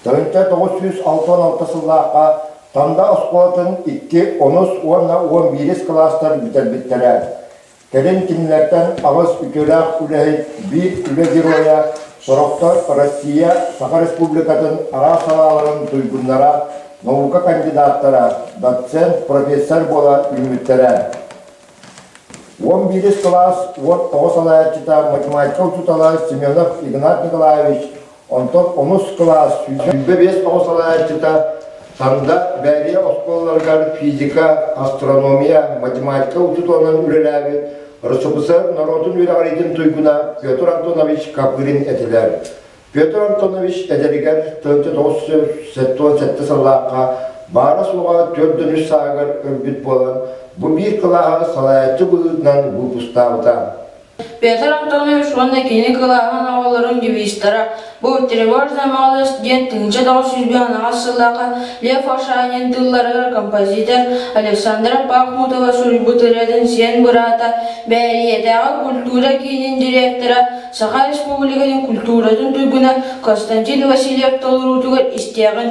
Төрүттэр тоҕус сүүс алта уон алта сыллаахха Танда оскуолатын икки, онус уонна уон биирис кылаастар бүтэрбиттэрэ. Кэлин кинилэртэн аҕыс үтүөлээх үлэһит, биир үлэ геройа, сорохтор Россия, Саха Республикатын араас салааларын туйгуннара, наука кандидаттара, доцент, профессор буола үүммүттэрэ. Уон биирис кылаас уот оҕо салайааччыта, математика учуутала Семенов Игнат Николаевич Онтон онус кылаас сүүрбэ биэс тоҕус салайааччыта Санда Бээрийэ оскуолаларыгар физика, астрономия, математика учууталынан үлэлээбит РСФСР норуотун үөрэҕириитин туйгуна Петр Антонович Копырин этилэр. Петр Антонович эдэригэр 1988 сыллаахха баара-суоҕа төрт дönүс сааһыгар өлбүт буолан, бу биир кылааһы салайааччы быһыытынан выпустаабыта. Петр Антонович уонна кини кылааһын оҕолорун девизтара «Бу тревожная молодость» диэн тыһыынча тоҕус сүүс быһаанаҕас сыллаахха Лев Ошанин тылларыгар композитор Александра Пахмутова суруйбут ырыатын сиэн быраата, Бээрийэтээҕи культура киинин директора, Саха Республикатын культуратын туйгуна Константин Васильев толоруутугар истиэҕин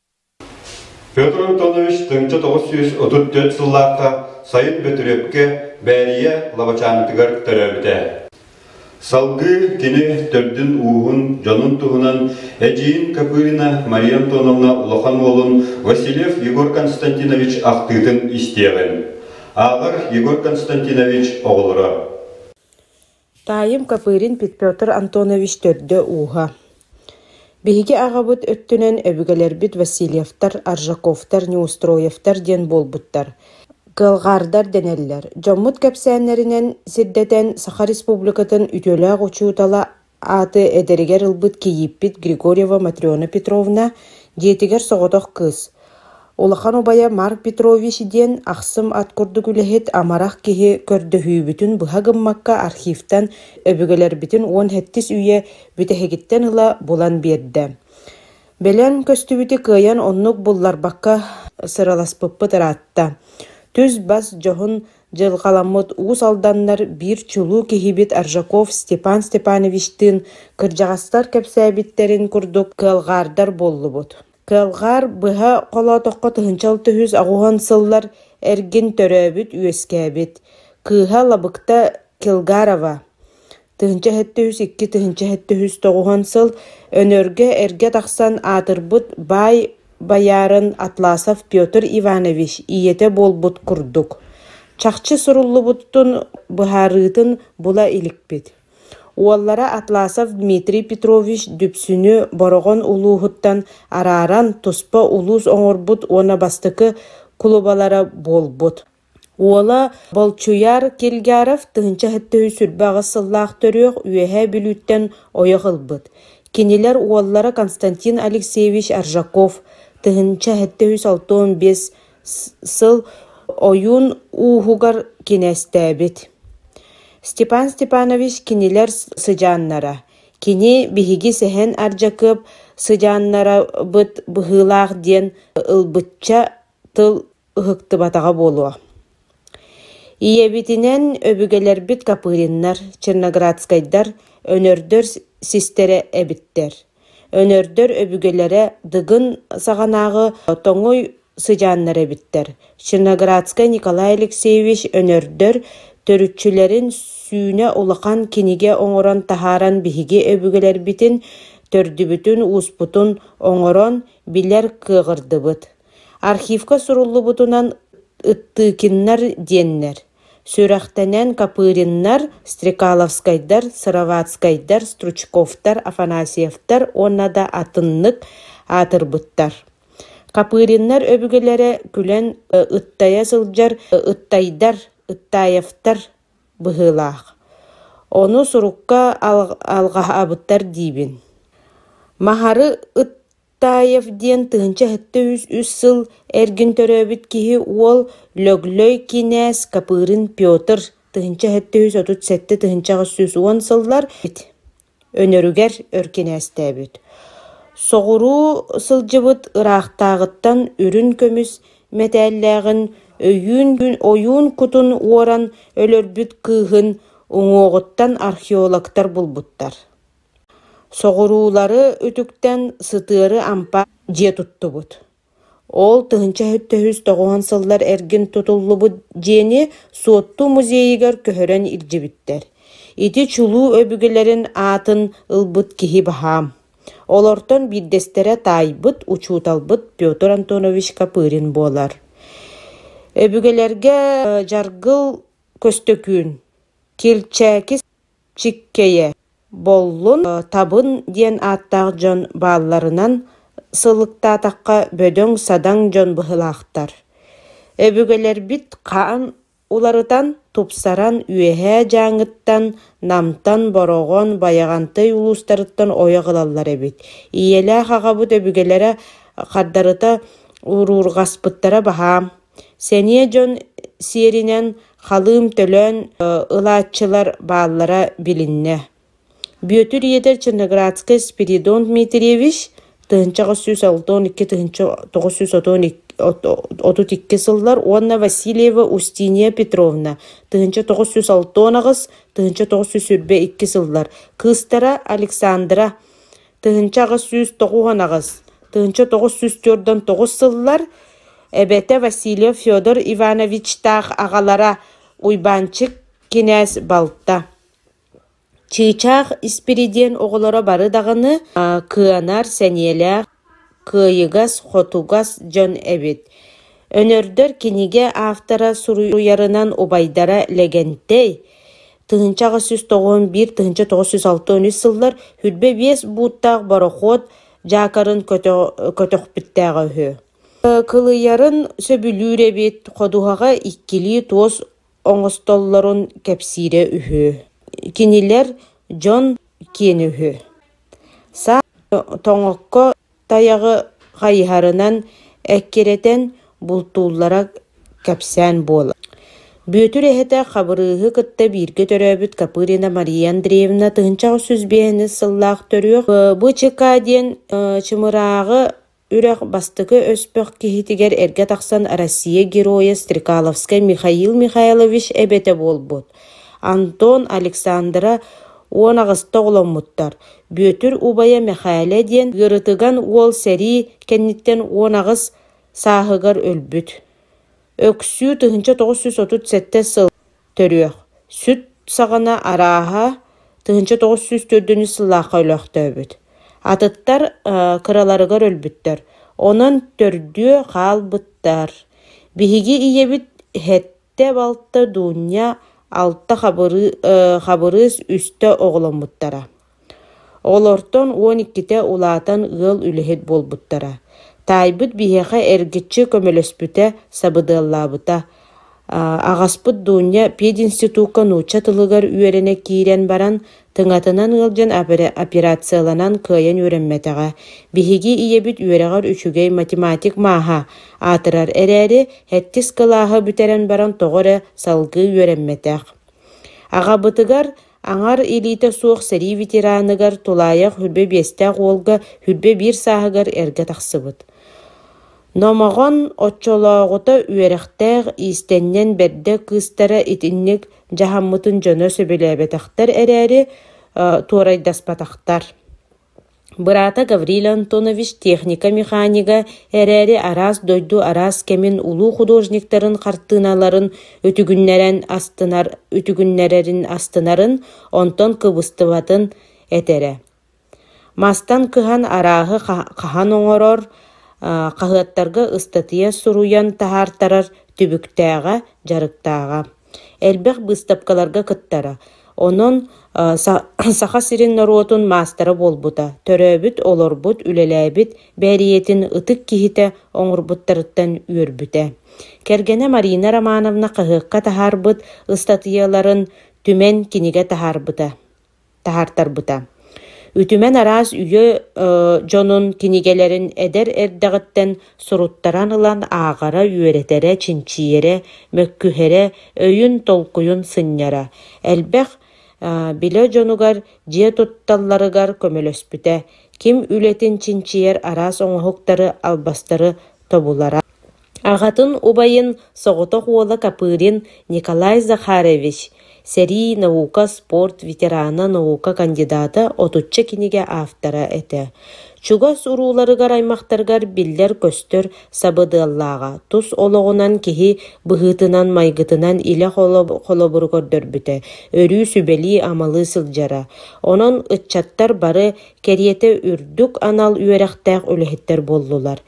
Петр Антонович тыһыынча тоҕус сүүс отут төрүт сыллаахха Сайын Бөтүрүөпкэ Бээрийэ Лабачаантыгар төрөөбүтэ. Салгыы кини төрдүн-ууһун, дьонун туһунан эдьиийин Копырина Мария Антоновна улахан уолун Васильев Егор Константинович ахтыытын истиэҕиҥ. Ааҕар Егор Константинович оҕолоро. Таайым Копырин Петр Антонович төрдө-ууһа. Биһиги аҕабыт өттүнэн өбүгэлэрбит Васильевтар, Аржаковтар, Неустроевтар диэн буолбуттар. Кылгаардар дэнэллэр. Дьоммут кэпсээннэринэн сирдэтэн Саха Республикатын үтүөлээх учуутала ааты эдэригэр ылбыт кийииппит Григорьева Матрена Петровна, дьиэтигэр соҕотох кыыс. Улахан убайа Марк Петрович диэн ахсым ат курдук үлэһит, амарах киһи көрдөһүүбүтүн быһа гыммакка архивтан өбүгэлэрбитин уон сэттис үйэ бүтэһигиттэн ыла булан биэрдэ. Бэлэм көстүбүтү кыайан оннук булларбакка сыраласпыппыт ыраатта. Түс-бас дьоһун дьылҕаламмыт уус алданнар биир чулуу киһибит Аржаков Степан Степановичтыын кырдьаҕастар кэпсээбиттэрин курдук кыалҕаардар буоллубут. Кылгаар быһа холоотоххо тыһыынча алта үһүс аҕуһан сыллар эргин төрөөбүт үөскээбит кыыһа Лабыкта Килгарова тыһыынча сэттэ үһүс икки тыһыынча сэттэ үһүс тоҕуһан сыл Өнөргө эргэ тахсан аатырбыт баай боярын Атласов Петр Иванович ийэтэ буолбут курдук чахчы суруллубуттун быһаарыытын була иликпит Уоллара Атласов Дмитрий Петрович Дүпсүнү Бороҕон улууһуттан арааран туспа улуус оҥорбут уонна бастакы кулубалара буолбут. Уола Болчуйаар Кильгаров тыһыынча сэттэ үс сүүрбэ аҕыс сыллаах төрүөх Үөһээ Бүлүүттэн ойох ылбыт. Кинилэр уоллара Константин Алексеевич Аржаков тыһыынча сэттэ үс алта уон биэс сыл ойуун ууһугар кинээстээбит Степан Степанович кинилэр сыдьааннара кини биһиги Сэһэн Ардьакыап сыдьааннарабыт быһыылаах диэн ылбычча тыл ыһыктыбатаҕа буолуо ийэбитинэн өбүгэлэрбит Копыриннар черноградскайдар өнөрдөр систэрэ эбиттэр Өнөрдөр өбүгэлэрэ Дыгын саҕанааҕы тоҥуй сыдьааннара эбиттэр. Чиноградскай Николай Алексеевич Өнөрдөр төрүччүлэрин сүүнэ улахан кинигэ оҥорон таһааран биһиги өбүгэлэрбитин төрдүбүтүн-ууспутун оҥорон билэр кыаҕырдыбыт. Архивка суруллубутунан «Ыттыыкиннар» диэннэр Сүрэхтэнэн Копыриннар, Стрекаловскайдар, Сыроватскайдар, Стручковтар, Афанасьевтар уонна да атыннык аатырбыттар. Копыриннар өбүгэлэрэ күлэн ыттайа сылдьар ыттайдар, ыттаевтар быһыылаах. Ону сурукка алҕаһабыттар диибин. Махары ыт Таев диэн тыһыынча сэттэ сүүс үс сыл эргин төрөөбүт киһи уол Лөглөй кинээс Капырын Петр тыһыынча сэттэ сүүс отут сэттэ тыһыынча аҕыс сүүс уон сыллар өнөрүгэр өр кинээстээбит. Соҕуруу сылдьыбыт ыраахтааҕыттан үрүн көмүс мэтээллээҕин өйүүн ойуун кутун уоран өлөрбүт кыыһын уҥуоҕуттан археологтар булбуттар Соҕуруулары үтүктэн, сытыары ампа дьиэ туттубут. Ол тыһыынча сэттэ сүүс тоҕуһун сыллар эргин тутуллубут дьиэни Суотту музейыгар көһөрөн илдьибиттэр. Ити чулуу өбүгэлэрин аатын ылбыт киһи баһаам. Олортон биирдэстэрэ таайбыт учууталбыт Петр Антонович Копырин буолар. Өбүгэлэргэ дьаргыл Көстөкүүн, Килчээки Чиккэйэ, Боллун, Табын диэн ааттаах дьон баалларынан сылыктаатахха бөдөҥ-садаҥ дьон быһыылаахтар. Өбүгэлэрбит хаан уларытан, тупсаран, Үөһээ Дьааҥыттан, Намтан, Бороҕон, Байаҕантай улуустарыттан ойох ылаллар эбит. Ийэлээх аҕабыт өбүгэлэрэ хардарыта уруурҕаспыттара баһаам. Сэниэ дьон сиэринэн Халыым төлөөн ылааччылар бааллара билиннэ. Бүөтүр ийэтэ Ченноградскай Спиридон Дмитриевич тыһыынча аҕыс сүүс алтан икки тыһыынча тоҕус сүүс отут икки сыллар уонна Васильева Устинья Петровна тыһыынча тоҕус сүүс алтан аҕыс тыһыынча тоҕус сүүс сүүрбэ икки сыллар кыыстара Александра тыһыынча аҕыс сүүс тоҕуһун аҕыс тыһыынча тоҕус сүүс түөртэн тоҕус сыллар эбэтэ Васильев Федор Ивановичтаах аҕалара Уйбаанчык кинээс балта Чыычаах Испиридиэн оҕолоро бары даҕаны кыанар сэниэлээх кыайыгас, хотугас дьон эбит. Өнөрдөр кинигэ автора суруйарынан убайдара Лэгэнтэй тыһыынча аҕыс сүүс тоҕус биир тыһыынча тоҕус сүүс алта он үс сыллар хүрбэ биэс бууттаах борохуот дьаакарын көтөхпүттээҕэ үһү. Кылыйарын сөбүлүүр эбит, ходуһаҕа иккилии туос оҥостоллорун кэпсиирэ үһү. Кинилэр дьон киэн үһү Саа тоҥокко тайаҕы хайыһарынан эккирэтэн бултууллара кэпсээн буолар Бүөтүр эһэтэ Хабырыыһы кытта бииргэ төрөөбүт Копырина Мария Андреевна тыһыынча аҕыс сүүс биэһинэс сыллаах төрүөх БЧК диэн чымырааҕы Үрэх бастакы өспөх киһитигэр эргэ тахсан Россия Геройа Стрекаловскай Михаил Михайлович эбэтэ буолбут Антон Александра уон аҕыста оҕоломмуттар. Бүөтүр убайа Мэхээлэ диэн ыарытыган уол сэрии кэнниттэн уон аҕыс сааһыгар өлбүт. Өксүү тыһыынча тоҕус сүүс отут сэттэ сыл Төрүөх, сүт саҕана, арааһа, тыһыынча тоҕус сүүс төрдүнүүс сыллаахха өлөөхтөөбүт. Атыттар кыраларыгар өлбүттэр, онон төрдүө хаалбыттар. Биһиги ийэбит сэттэ-балта Дуунньа, алта Хабырыыс, үстэ оҕоломмуттара Олортон уон иккитэ улаатан ыал үлэһит буолбуттара. Таайбыт биһиэхэ эргиччи көмөлөспүтэ, сабыдыаллаабыта. Аҕаспыт Дуунньа пединститукка нуучча тылыгар үөрэнэ киирэн баран, тыҥатынан ыалдьан операцияланан кыайан үөрэммэтэҕэ. Биһиги ийэбит үөрэҕэр үчүгэй математик мааһа аатырар эрээри, сэттис кылааһы бүтэрэн баран тоҕо эрэ салгыы үөрэммэтэх. Аҕабытыгар Аҥар илиитэ суох сэрии ветераныгар тулаайах үрбэ биэстээх уолга үрбэ биир сааһыгар эргэ тахсыбыт. Номоҕон оччолооҕута үөрэхтээх иистэнньэн бэрдэ кыыстара итинник дьаһаммытын дьоно сөбүлээбэтэхтэр эрээри, туорайдаспатахтар Быраата Гаврил Антонович техника механига эрээри араас дойду араас кэмин улуу художниктарын хартыыналарын үтүгүннэрэн астынар үтүгүннэрэрин астынарын, онтон кыбыстыбатын этэрэ. Мастан кыһан арааһы хаһан оҥорор, хаһыаттарга ыстатыйа суруйан таһаартарар түбүктээҕэ, дьарыктааҕа. Элбэх быыстапкаларга кыттара, онон Саха сирин норуотун маастара буолбута, төрөөбүт, олорбут, үлэлээбит бэриэтин ытык киһитэ оҥорбуттарыттан үөрбүтэ. Кэргэнэ Марина Романовна хаһыакка таһаарбыт ыстатыйаларын Түмэн кинигэ таһаарбыта. таһаартарбыта. Үтүмэн араас үйэ дьонун кинигэлэрин эдэр эрдэҕиттэн суруттаран ылан ааҕара, үөрэтэрэ, чинчийэрэ, мөккүһэрэ, өйүн-толкуйун сынньара. Элбэх билэ дьонугар, дьиэ тутталларыгар көмөлөспүтэ, ким үлэтин чинчийэр араас оҥоһуктары, албастары тобулара. Аҕатын убайын соҕотох уола Копырин Николай Захарович, сэрии, наука, спорт ветерана, наука кандидата, отучча кинигэ автора этэ, чугас урууларыгар аймахтарыгар биллэр-көстөр сабыдыаллааҕа, тус олоҕунан киһи быһыытынан-майгытынан илэ холобуру көрдөрбүтэ, өрүү сүбэлии-амалыы сылдьара. Онон ыччаттар бары Кэриэтэ үрдүк анал үөрэхтээх үлэһиттэр буоллулар.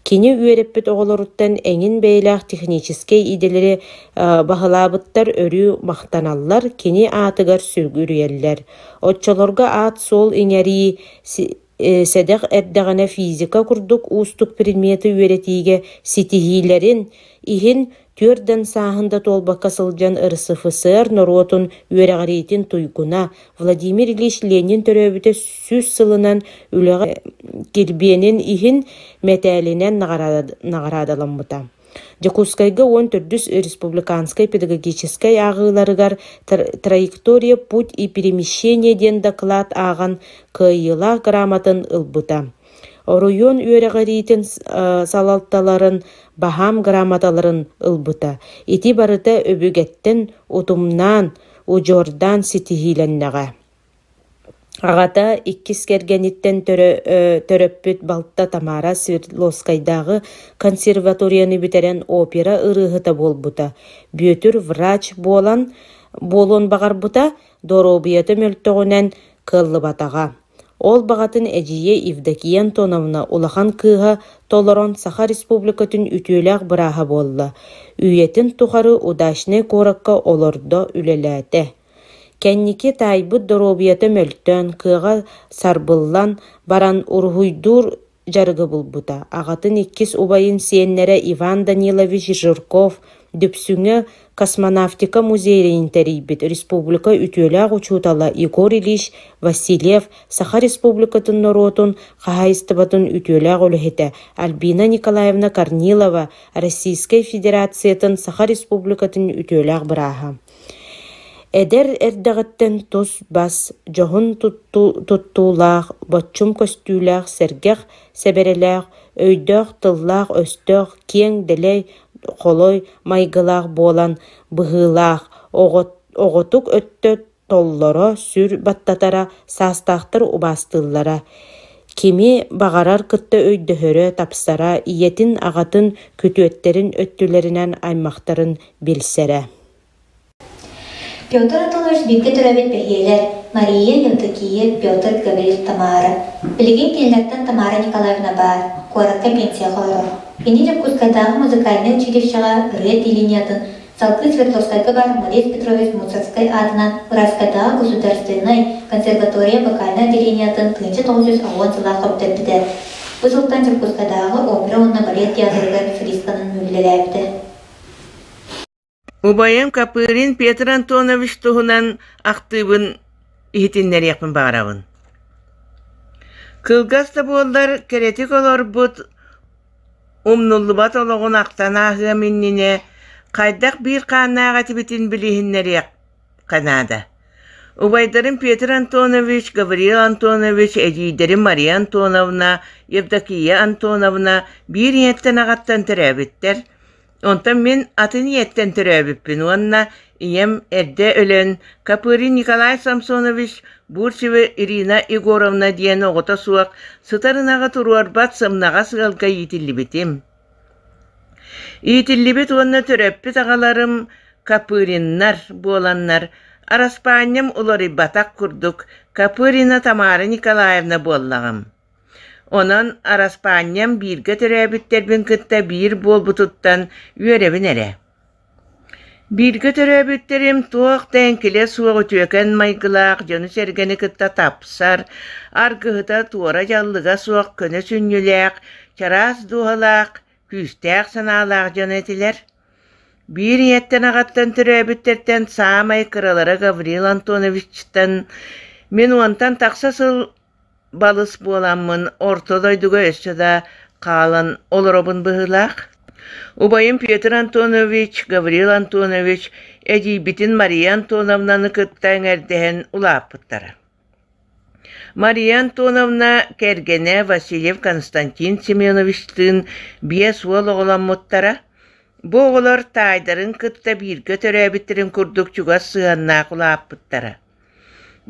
Кини үөрэппит оҕолоруттан эҥин бэйэлээх техническэй идэлэри баһылаабыттар өрүү махтаналлар, кини аатыгар сүгүрүйэллэр. Оччолорго аат-суол иҥэрии, сэдэх эрдэҕинэ физика курдук уустук предмети үөрэтиигэ ситиһиилэрин, иһин Түөрт да сааһын да туолбакка сылдьан РСФСР норуотун үөрэҕириитин туйгуна Владимир Ильич Ленин төрөөбүтэ сүүс сылынан үлэҕэ кирбиэнин иһин мэтээлинэн наҕараадаламмыта. Дьокуускайга уон төрдүс республиканскай педагогическай ааҕыыларыгар «Траектория, путь и перемещение» диэн доклад ааҕан кыайыылаах грамотын ылбыта. Оройуон үөрэҕириитин салалталарын баһаам грамоталарын ылбыта, ити барыта өбүгэттэн утумнаан, удьуордаан ситиһиилэннэҕэ. Аҕата иккис кэргэниттэн төрөппүт балта Тамара Свердловскайдааҕы консерваторияны бүтэрэн опера ырыаһыта буолбута, Бүөтүр врач буолан буолуон баҕарбыта, доруобуйата мөлтөҕүнэн кыаллыбатаҕа. Ол баҕатын эдьиийэ Евдокия Антоновна улахан кыыһа толорон Саха Республикатын үтүөлээх бырааһа буолла, үйэтин тухары Удачнай куоракка олордо, үлэлээтэ. Кэнники таайбыт доруобуйата мөлтөөн, кыаҕа сарбыллан баран, уруһуйдуур дьарыгы булбута. Аҕатын иккис убайын сиэннэрэ Иван Данилович Жирков Дүпсүҥэ космонавтика музейын тэрийбит республика үтүөлээх учуутала Егор Ильич Васильев Саха Республикатын норуотун хаһаайыстыбатын үтүөлээх үлэһитэ Альбина Николаевна Корнилова Российскай Федерациятын Саха Республикатын үтүөлээх бырааһа Эдэр эрдэҕиттэн тус-бас, дьоһун туттуулаах, боччум көстүүлээх, сэргэх сэбэрэлээх, өйдөөх-тыллаах-өстөөх, киэҥ, дэлэй, холой майгылаах буолан быһыылаах, оҕотук өттө толлоро, сүр баттатара, саастаахтар убаастыыллара, кими баҕарар кытта өйдөһөрө, тапсара, ийэтин, аҕатын, күтүөттэрин өттүлэринэн аймахтарын билсэрэ Петр Анатольевич бииргэ төрөөбүт бэһиэлэр Мария, Евдокия, Петр, Гаврил, Тамара. Билигин кинилэртэн Тамара Николаевна баар, куоракка пенсияҕа олорор. Кини Дьокуускайдааҕы музыкальнай училищеҕа ырыа телениятын салгыы Свердловскайга баар Мурет Петрович Муцарскай аатынан Ураскайдааҕы государственнай консерватория вокальнай отделениятын тыынча тоҕус сүүс аҕыан сыллаах көҕүтэрбитэ. Бу сылтан Дьокуускайдааҕы опера уонна балет театрыгар солистканан үлэлээбитэ. Убайым Копырин Петр Антонович туһунан ахтыыбын иһитиннэриэхпин баҕарабын. Кылгас да буоллар кэрэтик олорбут, умнуллубат олоҕун ахтан ааһыам иннинэ хайдах биир хааннаах этибитин билиһиннэриэх Канада Убайдарым Петр Антонович, Гавриил Антонович, эдьиийдэрим Мария Антоновна, Евдокия Антоновна биир ийэттэн аҕаттан төрөөбүттэр. Онтон мин атын ийэттэн төрөөбүппүн уонна ийэм эрдэ өлөн Капырин Николай Самсонович Бурцева Ирина Егоровна диэн оҕото суох сытар ынаҕы туруорбат сымнаҕас ыалга иитиллибитим. Иитиллибит уонна төрөппүт аҕаларым Копыриннар буоланнар, араспаанньам уларыйбатах курдук Копырина Тамара Николаевна буоллаҕым. Онон араспаанньам бииргэ төрөөбүттэрбин кытта биир буолбутуттан үөрэбин эрэ Бииргэ төрөөбүттэрим туох да эҥкилэ суох үтүөкэн майгылаах, дьону-сэргэни кытта тапсар, аргыһыта туора дьаллыга суох көнө сүнньүлээх, чараас дууһалаах, күүстээх санаалаах дьоно этилэр. Биир ийэттэн-аҕаттан төрөөбүттэртэн саамай кыралара Гаврил Антоновичтан, мин уонтан тахса сыл Балыс буоламмын орто дойдуга өссө да хаалан олоробун быһыылаах. Убайым Петр Антонович, Гаврил Антонович эдьиийбитин Мария Антоновнаны кытта эҥэрдэһэн улааппыттара. Мария Антоновна кэргэнэ Васильев Константин Семеновичтыын биэс уол оҕоломмуттара. Бу оҕолор таайдарын кытта бииргэ төрөөбүттэрин курдук чугас сыһыаннаах улааппыттара.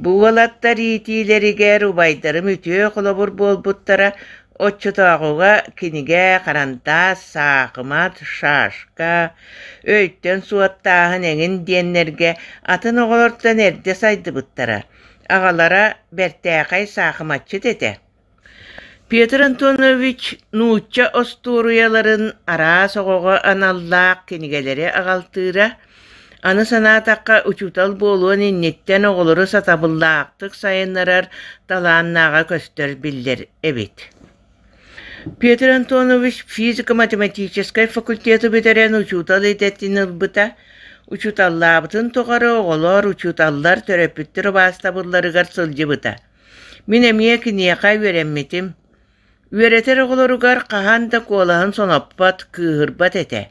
Бу уолаттар иитиилэригэр убайдарым үтүө холобур буолбуттара, оччотооҕуга кинигэ харантаас, саахымат, шашка, өйтөн суоттааһын эҥин диэннэргэ атын оҕолортон эрдэ сайдыбыттара. Аҕалара бэртээхэй саахыматчыт этэ. Петр Антонович нуучча остуоруйаларын араас оҕоҕо аналлаах кинигэлэри аҕалтыыра, аны санаатахха, учуутал буолуон инниттэн оҕолору сатабыллаахтык сайыннарар талааннааҕа көстөр биллэр эбит. Петр Антонович физико-математическай факультету бүтэрэн учуутал идэтин ылбыта, учууталлаабытын тухары оҕолор учууталлар төрөппүттэр убаастабылларыгар сылдьыбыта. Мин эмиэ киниэхэ үөрэммитим. Үөрэтэр оҕолоругар хаһан да куолаһын соноппот, кыыһырбат этэ.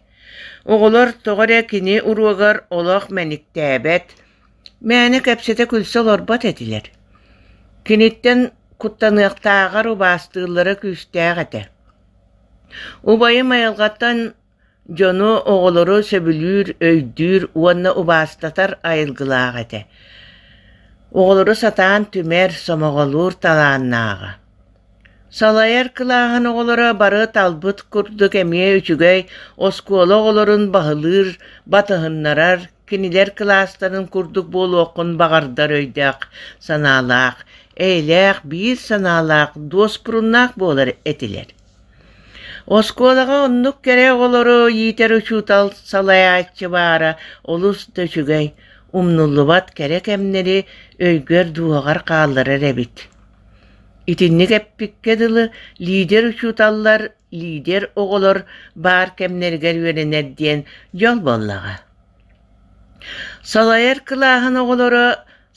Оҕолор тоҕо эрэ кини уруогар олох мэниктээбэт, мээнэ кэпсэтэ күлсэ олорбот этилэр. Киниттэн куттаныахтааҕар убаастыыллара күүстээх этэ. Убайым айылҕаттан Дьону, оҕолору сөбүлүүр, өйдүүр уонна убаастатар айылгылаах этэ. Оҕолору сатаан түмэр, сомоҕолуур талааннааҕа. Салайар кылааһын оҕолоро бары талбыт курдук эмиэ үчүгэй оскуола оҕолорун баһылыыр, батыһыннарар, кинилэр кылаастарын курдук буолуоххун баҕардар өйдөөх, санаалаах, эйэлээх, биир санаалаах, дуоспуруннаах буолар этилэр. Оскуолаҕа оннук кэрэ оҕолору иитэр учуутал салайааччы баара олус да үчүгэй, умнуллубат кэрэ кэмнэри өйгөр-дуоһугар хаалларар эбит. Итинник эппиккэ дылы, лидер-учууталлар, лидер оҕолор баар кэмнэригэр үөрэнэр диэн дьол буоллаҕа. Салайар кылааһын оҕолоро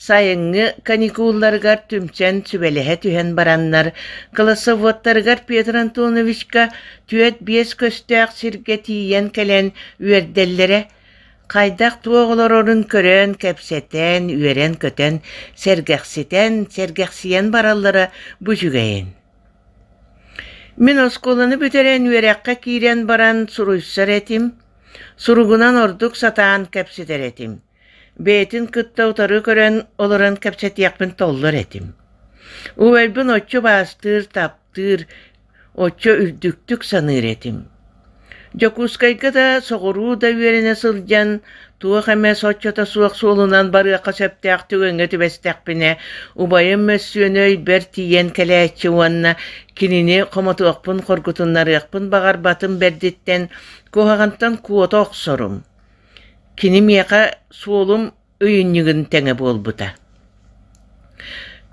сайыҥҥы каникулларыгар түмсэн сүбэлэһэ түһэн бараннар, классоводтарыгар Петр Антоновичка түөрт биэс көстөөх сиргэ тиийэн кэлэн үөрдэллэрэ, хайдах туох олорорун көрөн, кэпсэтэн, үөрэн-көтөн, сэргэхситэн, сэргэхсийэн бараллара бу үчүгэйин. Мин оскуоланы бүтэрэн үөрэххэ киирэн баран суруйсар этим, Суругунан ордук сатаан кэпсэтэр этим. Бэйэтин кытта утары көрөн олорон кэпсэтиэхпин толлор этим. Убайбын оччо баастыыр, таптыыр, оччо үрдүктүк саныыр этим. Дьокуускайга да соҕуруу да үөрэнэ сылдьан, туох эмэ соччото суох суолунан барыахха сөптөөх түгэҥҥэ түбэстэхпинэ, убайым мөссүөнэ өйбөр тиийэн кэлээччи уонна кинини хомотуохпун хоргутуннарыахпын баҕарбатым бэрдиттэн Куһаҕантан куота охсорум, кини миэхэ суолум өйүнньүгүн тэҥэ буолбута.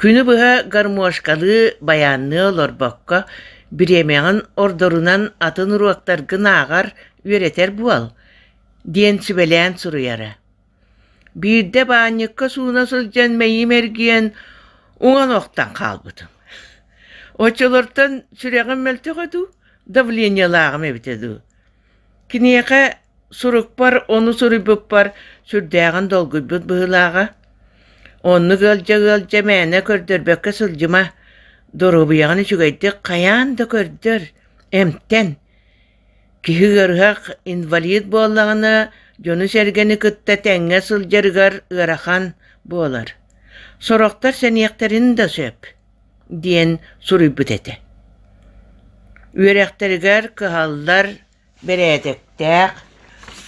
Күнү быһа гармошкалыы байаанныы олорбокко, бириэмэҕин ордорунан атын уруоктаргын ааҕар, үөрэтэр буол, диэн сүбэлээн суруйара. Биирдэ баанньыкка сууна сылдьан мэйиим эргийэн уҥан охтон хаалбытым. Оччолортон сүрэҕим мөлтөҕө дуу, давлениелааҕым эбитэ дуу. Киниэхэ сурукпар ону суруйбуппар сүрдээҕин долгуйбут быһыылааҕа. Оннук ыалдьа-ыалдьа мээнэ көрдөрбөккө сылдьыма. Доруобуйаҕын үчүгэйдик хайаан да көрдөр, эмтэн. Киһи ыарыһах инвалид буоллаҕына, дьону-сэргэни кытта тэҥҥэ сылдьарыгар ыарахан буолар. Сорохтор сэниэхтэрин да сөп, диэн суруйбут этэ. Үөрэхтэригэр кыһаллар, бэрээдэктээх,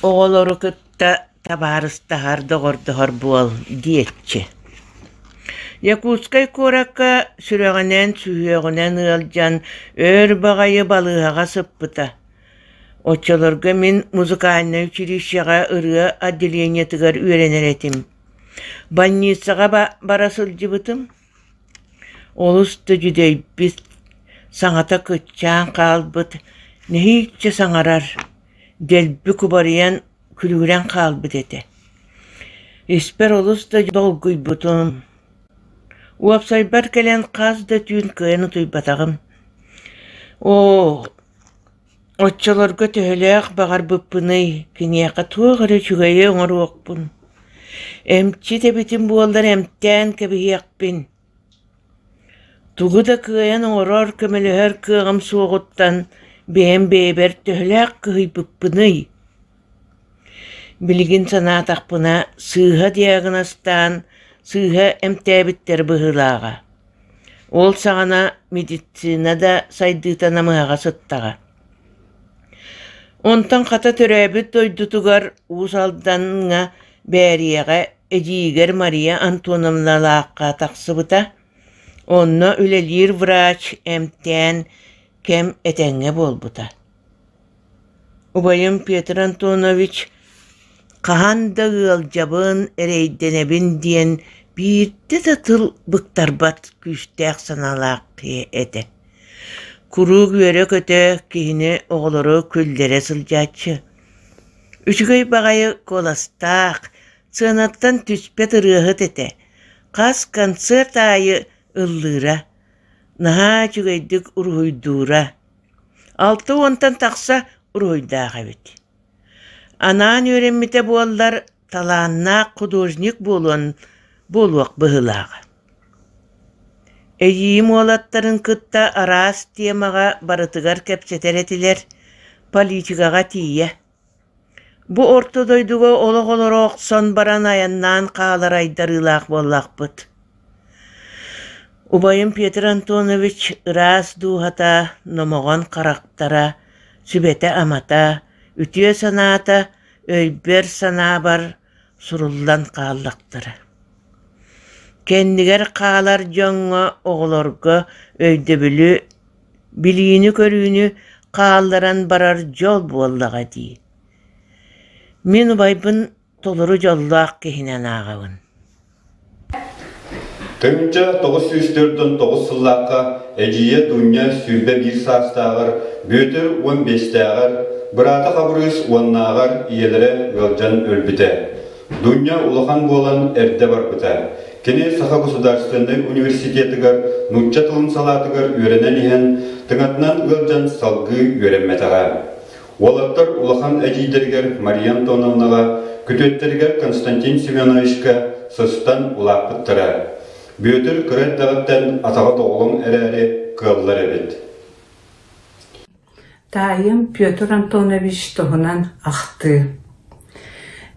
оҕолору кытта кытта табаарыстаһар доҕордоһор буол диэччи Якутскай куоракка сүрэҕинэн сүһүөҕүнэн ыалдьан өр баҕайы балыыһаҕа сыппыта. Оччолорго мин музыкальнай училищеҕа ырыа отделениетыгар үөрэнэр этим. Больницаҕа бара сылдьыбытым. Олус да дьүдэйбит, саҥата кыччаан хаалбыт, нэһииччэ саҥарар, дэлби кубарыйан күлүгүрэн хаалбыт этэ. Испэр олус да долгуйбутум. Уопсайбар кэлэн хас да түүн кыайан утуйбатаҕым. Оо, Оччолорго төһөлөөх баҕарбыппыный, киниэхэ туох эрэ үчүгэйи оҥоруохпун, эмчит эбитим буоллар эмтээн кэбиһиэхпин. Тугу да кыайан оҥорор, көмөлөһөр кыаҕым суоҕуттан бэйэм бэйэбэр төһөлөөх кыһыйбыппыный Билигин санаатахпына, сыыһа диагнозтаан, сыыһа эмтээбиттэр быһыылааҕа. Ол саҕана медицина да сайдыыта намыһаҕа сыттаҕа. Онтон хата төрөөбүт дойдутугар Уус Алдаҥҥа Бээриэҕэ эдьиийигэр Мария Антоновналаахха тахсыбыта. Онно үлэлиир врач эмтээн кэм этэҥҥэ буолбута. Убайым Петр Антонович хаһан да ыалдьабын, эрэйдэнэбин диэн биирдэ да тыл быктарбат күүстээх санаалаах киһи этэ. Куруук үөрэ-көтө, киһини оҕолоро күллэрэ сылдьааччы. Үчүгэй баҕайы куоластаах, сыанаттан түспэт ырыаһыт этэ. Хас концерт аайы ыллыыра, наһаа үчүгэйдик уруһуйдуура. Алта уонтан тахса уруһуйдаах эбит. Анаан үөрэммитэ буоллар, талааннаах художник буолуон буолуох быһыылааҕа. Эдьиийим уолаттарын кытта араас тиэмэҕэ барытыгар кэпсэтэр этилэр, политикаҕа тиийэ. Бу орто дойдуга олох олоро охсон баран айаннаан хаалар айдарыылаах буоллахпыт Убайым Петр Антонович ыраас дууһата, номоҕон харахтара, сүбэтэ-амата, үтүө санаата өйбөр-санаабар суруллан хааллахтара. Кэннигэр хаалар дьоҥҥо, оҕолорго өйдөбүлү, билиини-көрүүнү хаалларан барар дьол буоллаҕа дии. Мин убайбын толору дьоллоох киһинэн ааҕабын. Тыҥча тоҕус сүүс төрт уон тоҕус сыллаахха эдьиийэ Дуня сүүрбэ биир саастааҕар Бүөтүр уон биэстээҕэр, быраата Хабырыыс уоннааҕар ийэлэрэ ыалдьан өлбүтэ. Дуня улахан буолан эрдэ барбыта. Кини Саха государственнай университетыгар нуучча тылын салаатыгар үөрэнэн иһэн, тыҥатынан ыалдьан салгыы үөрэммэтэҕэ. Уолаттар улахан эдьиийдэригэр Мария Антоновнаҕа, күтүөттэригэр Константин Семеновичка сыстан улааппыттара. Бүөтүр кыра эрдэҕиттэн атаҕыт-оҕолоҥ эрээри кыаллар эбит. Таайым Петр Антонович туһунан ахтыы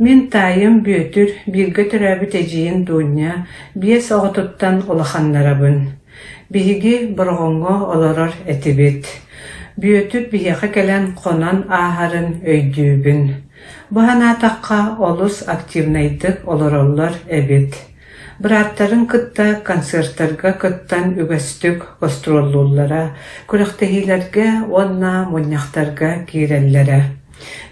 Мин таайым Бүөтүр бииргэ төрөөбүт эдьиийин Дуунньа биэс оҕотуттан улаханнарабын. Биһиги Бороҕоҥҥо олорор этибит. Бүөтүр биһиэхэ кэлэн хонон ааһарын өйдүүбүн. Бу санаатахха олус активнайдык олороллор эбит. Бырааттарын кытта концертарга кыттан үгэстик гастроллууллара, күрэхтэһиилэргэ уонна мунньахтарга киирэллэрэ.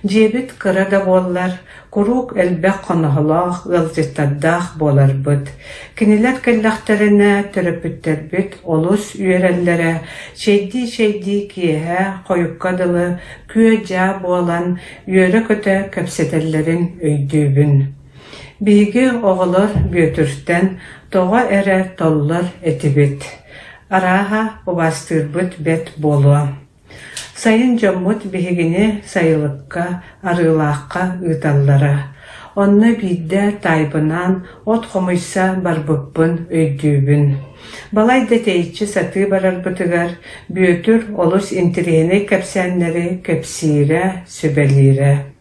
Дьиэбит кыра да буоллар, куруук элбэх хоноһолоох, ыалдьыттардаах буоларбыт, кинилэр кэллэхтэринэ төрөппүттэрбит олус үөрэллэрэ, чэйдии-чэйдии киэһэ, хойукка дылы, күө-дьаа буолан, үөрэ-көтө кэпсэтэллэрин өйдүүбүн. Биһиги оҕолор Бүөтүртэн тоҕо эрэ толлор этибит. Арааһа, убаастыырбыт бэрт буолуо Сайын дьоммут биһигини сайылыкка, Арыылаахха ыыталлара, онно биирдэ таайбынаан от хомуйса барбыппын өйдүүбүн. Балай да тэйиччи сатыы барарбытыгар Бүөтүр олус интириэһинэй кэпсээннэри кэпсиирэ, сүбэлиирэ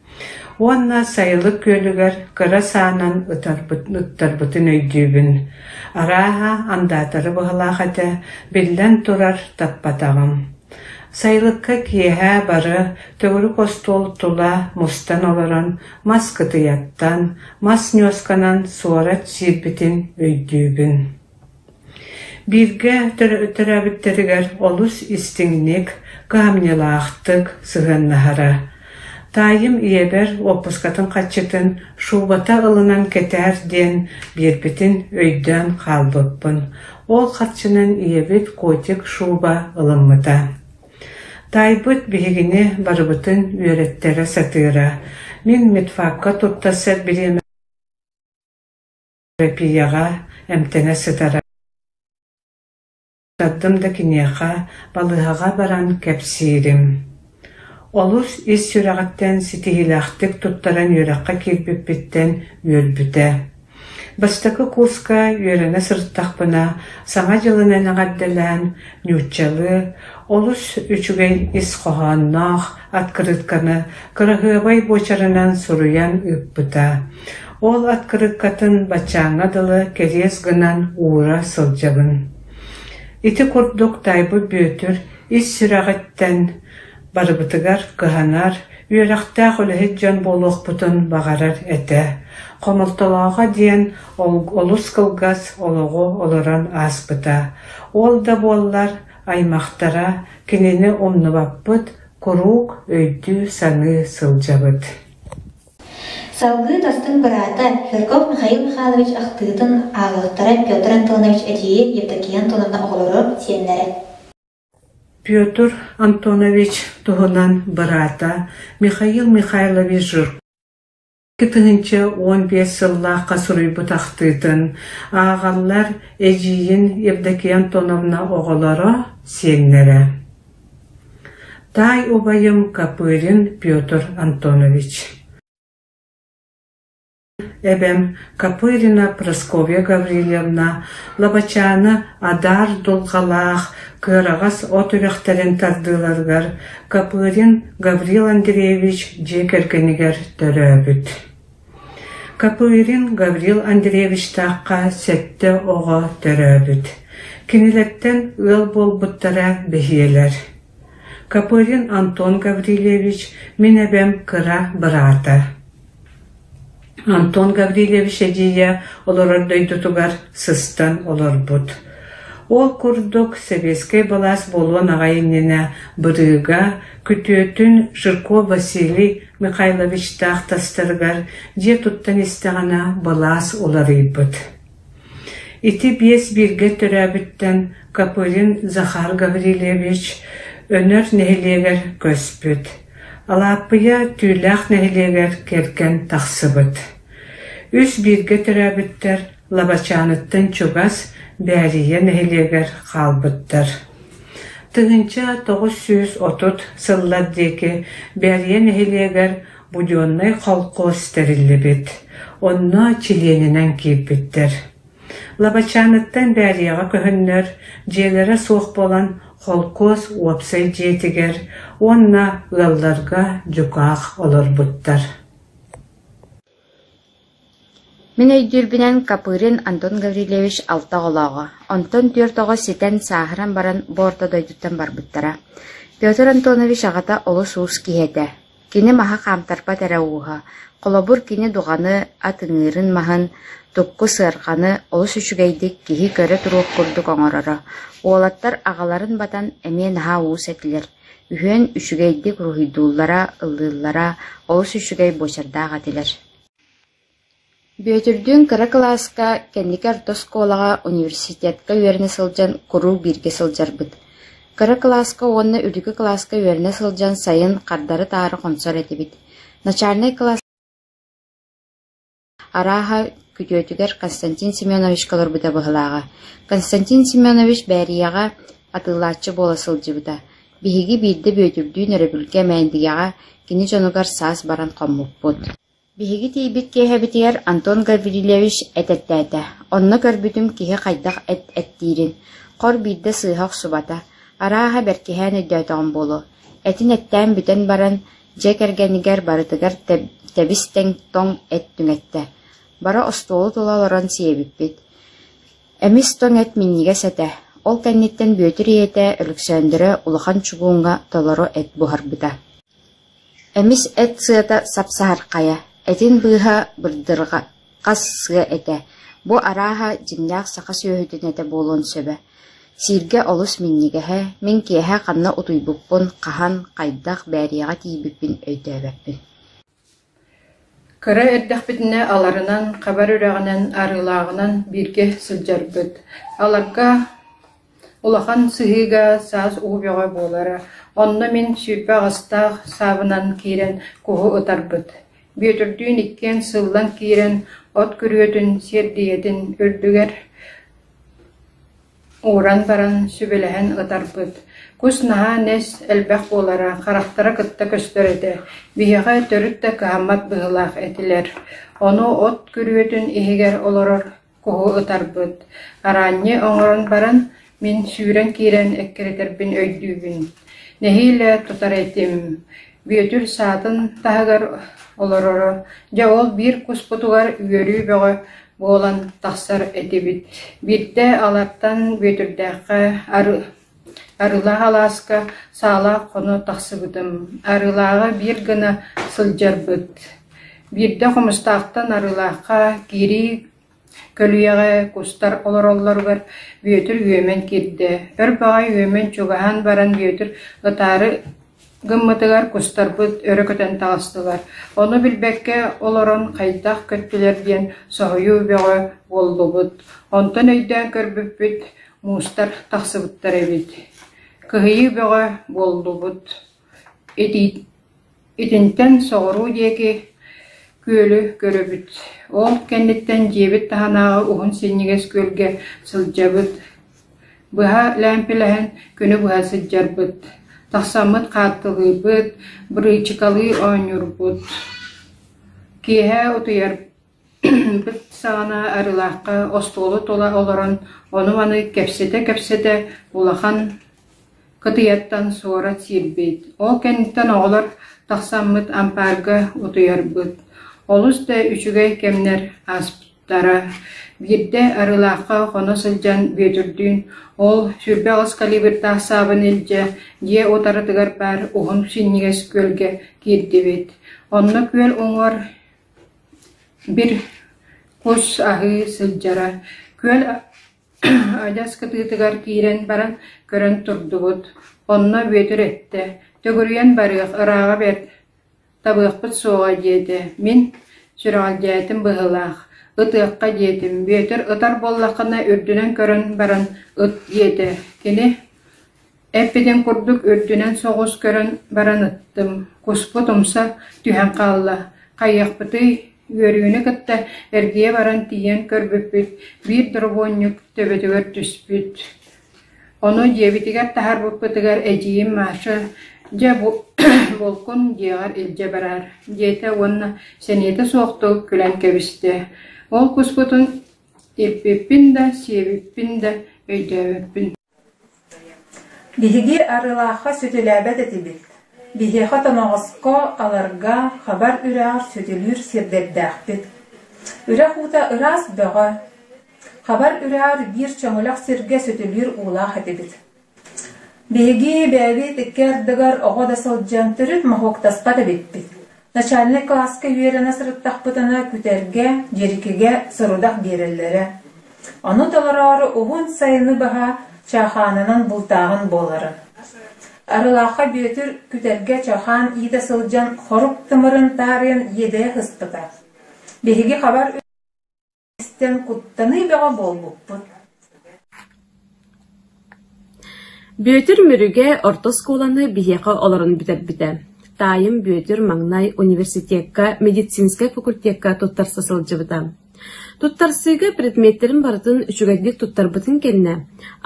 Уонна Сайылык күөлүгэр кыра саанан ыттарбытын өйдүүбүн, арааһа, андаатары быһалаах этэ, биллэн турар, таппатаҕым. Сайылыкка киэһэ бары төгүрүк остуол тула мустан олорон, мас кытыйаттан, мас ньуосканан суорат сиирбитин өйдүүбүн Бииргэ төрөөбүттэригэр олус истиҥник, кыһамньылаахтык сыһыаннаһара. Таайым ийэбэр уоппускатын харчытын шубата ылынан кэтээр диэн биэрбитин өйдөөн хаалбыппын. Ол харчынан ийэбит котик шуба ылыммыта. Таайбыт биһигини барыбытын үөрэттэрэ сатыыра. Мин медфакка туттарсар бириэмэ Эрэпиэйэҕэ эмтэнэ сытара бардым да киниэхэ, балыыһаҕа баран кэпсиирим Олус ис сүрэҕиттэн ситиһиилээхтик туттаран үөрэххэ киирбиппиттэн үөрбүтэ. Бастакы курска үөрэнэ сырыттахпына, Саҥа дьылынан эҕэрдэлээн, нууччалыы, олус үчүгэй ис хоһоонноох, открытканы кыраһыабай буочарынан суруйан ыыппыта. Ол открыткатын баччааҥҥа дылы кэриэс гынан уура сылдьабын. Ити курдук Тайбы Бүөтүр ис сүрэҕиттэн барыбытыгар кыһанар, үөрэхтээх үлэһит дьон буолуохпутун баҕарар этэ. Хомолтолооҕо диэн олус кылгас олоҕу олорон ааспыта. Ол да буоллар Аймахтара кинини умнубаппыт куруук өйдүү-саныы сылдьабыт Салгыы Тастын быраата Ферков Михаил Михайлович ахтыытын ааҕыахтара Петр Антонович эдьиийэ Евдокия Антоновна оҕолоро сиэннэрэ Петр Антонович туһунан быраата Михаил Михайлович Жирков тыһыынча уон биэс сыллаахха суруйбут ахтыытын ааҕаллар эдьиийин Евдокия Антоновна оҕолоро, сиэннэрэ таай убайым Копырин Петр Антонович эбэм Копырина Прасковья Гаврильевна Лабачааны адаар дулҕалаах кыараҕас от үрэхтэрин тардыыларыгар Копырин Гаврил Андреевич дьиэ кэргэнигэр төрөөбүт. Копырин Гаврил Андреевичтаахха сэттэ оҕо төрөөбүт. Кинилэртэн ыал буолбуттара бэһиэлэр. Копырин Антон Гаврильевич, мин эбэм кыра быраата. Антон Гаврильевич эдьиийэ олорор дойдутугар сыстан олорбут. Ол курдук сэбиэскэй былаас буолуон аҕай иннинэ Бырыыга күтүөтүн Жирков Василий Михайловичтаах тастарыгар дьиэ туттан истэҕинэ былаас уларыйбыт. Ити биэс бииргэ төрөөбүттэн Копылин Захар Гаврильевич Өнөр нэһилиэгэр көспүт, Алааппыйа Түүлээх нэһилиэгэр кэргэн тахсыбыт. Үс бииргэ төрөөбүттэр Лабачааныттан чугас Бээрийэ нэһилиэгэр хаалбыттар. Тыһыынча тоҕус сүүс отут сыллар диэки Бээрийэ нэһилиэгэр Буденнай холкуос тэриллибит, онно чилиэнинэн киирбиттэр. Лабачааныттан Бээлиэҕэ көһөннөр, дьиэлэрэ суох буолан, холкуос уопсай дьиэтигэр уонна ыалларга дьукаах олорбуттар. Мин өйдүүрбүнэн, Копырин Антон Гаврильевич алта оҕолооҕо, онтон түөрт оҕо ситэн, сааһыран баран бу орто дойдуттан барбыттара. Петр Антонович аҕата олус уус киһи этэ. Кини маһы хаамтарбат эрэ ууһа. Холобур, кини дуҕаны, ат ыҥыырын маһын, тукку сыарҕаны олус үчүгэйдик киһи көрө туруох курдук оҥороро. Уолаттар аҕаларын батан эмиэ наһаа уус этилэр. Үһүөн үчүгэйдик уруһуйдууллара, ыллыыллара, олус үчүгэй буочардаах этилэр Бүөтүрдүүн кыра кылааска, кэнники орто оскуолаҕа, университетка үөрэнэ сылдьан куруук бииргэ сылдьарбыт. Кыра кылааска уонна үрдүкү кылааска үөрэнэ сылдьан сайын хардары-таары хонсор этибит. Начальнай кылааска арааһа, күтүөтүгэр Константин Семеновичка олорбута быһылааҕа. Константин Семенович Бээрийэҕэ атыылааччы буола сылдьыбыта. Биһиги биирдэ Бүөтүрдүүн өрөбүлгэ Мээндигэҕэ кини дьонугар саас баран хоммуппут Биһиги тиийбит киэһэбитигэр Антон Гаврильевич этэртээтэ, онно көрбүтүм киһи хайдах эт эттиирин, хор биирдэ сыыһа охсубата, арааһа бэркиһээн өйдөөтөҕүм буолуо, этин эттээн бүтэн баран, дьиэ кэргэнигэр барытыгар тэбис-тэҥ тоҥ эт түҥэттэ, бара остуолу тула олорон сиэбиппит Эмис-тоҥ эт минньигэс этэ, ол кэнниттэн Бүөтүр ийэтэ Өлөксөөндөрө улахан чугууҥҥа толору эт буһарбыта Эмис эт сыата сапсаһархайа, этин быыһа бырдырҕа, хас сыа этэ, бу арааһа дьиҥнээх саха сүөһүтүн этэ буолуон сөбө. Сииргэ олус минньигэһэ, мин киэһэ ханна утуйбуппун, хаһан, хайдах, бээриэҕэ тиийбиппин өйдөөбөппүн Кыра эрдэхпитинэ аларынан, хабар үрэҕинэн, арыылааҕынан бииргэ сылдьарбыт. Аларга улахан сыһыыга саас уу бөҕө буолара, онно мин сүүрбэ аҕыстаах саабынан киирэн куһу ытарбыт. Бүөтүрдүүн иккиэн сыллан киирэн, от күрүөтүн, сиэрдийэтин үрдүгэр Ууран баран сүбэлэһэн ытарбыт: «Кус наһаа нэс, элбэх буолара, харахтара кытта көстөр этэ, биһиэхэ төрүт да кыһаммат быһыылаах этилэр, ону от күрүөтүн иһигэр олорор куһу ытарбыт, араанньы оҥорон баран, мин сүүрэн киирэн эккирэтэрбин өйдүүбүн, нэһиилэ тутар этим, Бүөтүр саатын таһыгар олороро, дьэ ол биир куспутугар үөрүү бөҕө буолан тахсар этибит. Биирдэ алартан Бүөтүрдээххэ Арыылаах алааска саалаах хоно тахсыбытым. Арыылааҕа биир гына сылдьарбыт. Биирдэ Хомустаахтан Арыылаахха киирии Көлүйэҕэ кустар олороллоругар Бүөтүр үөмэн киирдэ, өр баҕайы үөмэн чугаһаан баран Бүөтүр ытаары гыммытыгар кустарбыт өрө көтөн таҕыстылар, ону билбэккэ олорон хайдах көттүлэр диэн соһуйуу бөҕө буоллубут, онтон өйдөөн көрбүппүт муустар тахсыбыттар эбит, кыһыйыы бөҕө буоллубут, итии Итинтэн соҕуруу диэки күөлү көрөбүт, ол кэнниттэн дьиэбит таһынааҕы уһун синньигэс күөлгэ сылдьабыт. Быһа лээмпилэһэн күнү быһа сылдьарбыт, тахсаммыт хаартылыыбыт, бырыычыкалыы оонньуурбут. Киэһэ утуйар Бүт саҕана Арылаахха остуолу тула олорон ону-маны кэпсэтэ-кэпсэтэ улахан кытыйаттан суорат сиирбит, ол кэнниттэн оҕолор тахсаммыт ампаарга утуйарбыт. Олус да үчүгэй кэмнэр ааспыттара. Биирдэ Арылаахха хоно сылдьан Бүөтүрдүүн «Ол сүүрбэ аҕыс калибрдаах саабын илдьэ, дьиэ утарытыгар баар уһун синньигэс күөлгэ» киирдибит. Онно күөл уҥуор Бир кус аһыы сылдьара, күөл адьас кытыытыгар киирэн баран көрөн турдубут, онно Бүөтүр эттэ: «Төгүрүйэн барыах, ырааҕа бэрт, табыахпыт суоҕа» диэтэ. Мин сүрэҕэлдьээтим быһыылаах: «Ытыахха» диэтим, Бүөтүр ытар буоллаххына үрдүнэн көрөн баран ыт диэтэ. Кини: Эппитин курдук үрдүнэн соҕус көрөн баран ыттым, куспут умса түһэн хаалла, хайыахпытый, үөрүүнү кытта эргийэ баран тиийэн көрбүппүт, биир доробуонньук төбөтүгэр түспүт. Ону дьиэбитигэр таһаарбыппытыгар эдьиийим Маша «Дьэ, булкун дьиэҕэр илдьэ бараар» диэтэ уонна сэниэтэ суохтук күлэн кэбистэ. Ол куспутун илпиппин да, сиэбиппин да өйдөөбөппүн Биһиги Арыылаахха сүтүлээбэт этибит, биһиэхэ тоноҕоско аларга хабар үрэҕэр сүтүлүүр сирдэрдээхпит. Үрэх уута ыраас бөҕө, хабар үрэҕэр биир чөҥүлэх сиргэ сүтүлүүр уулаах этибит. Биһиги бэйэбит икки ардыгар оҕо да сылдьан төрүт моһуоктаспат эбиппит Начальнай кылааска үөрэнэ сырыттахпытына күтэргэ, дьирикигэ сорудах биэрэллэрэ. Ону толороору уһун сайыны баһа чаахаанынан бултааһын буолара. Арылаахха Бүөтүр күтэргэ чаахаан иитэ сылдьан хорук тымырын таарыйан иэдэйэ сыспыта. Биһиги хабар истэн куттаныы бөҕө буолбуппут Бүөтүр Мүрүгэ орто оскуоланы биһиэхэ олорон бүтэрбитэ. Таайым Бүөтүр маҥнай университекка, медицинскэй факультекка туттарса сылдьыбыта. Туттарсыыга предметтэрин барытын үчүгэйдик туттарбытын кэннэ,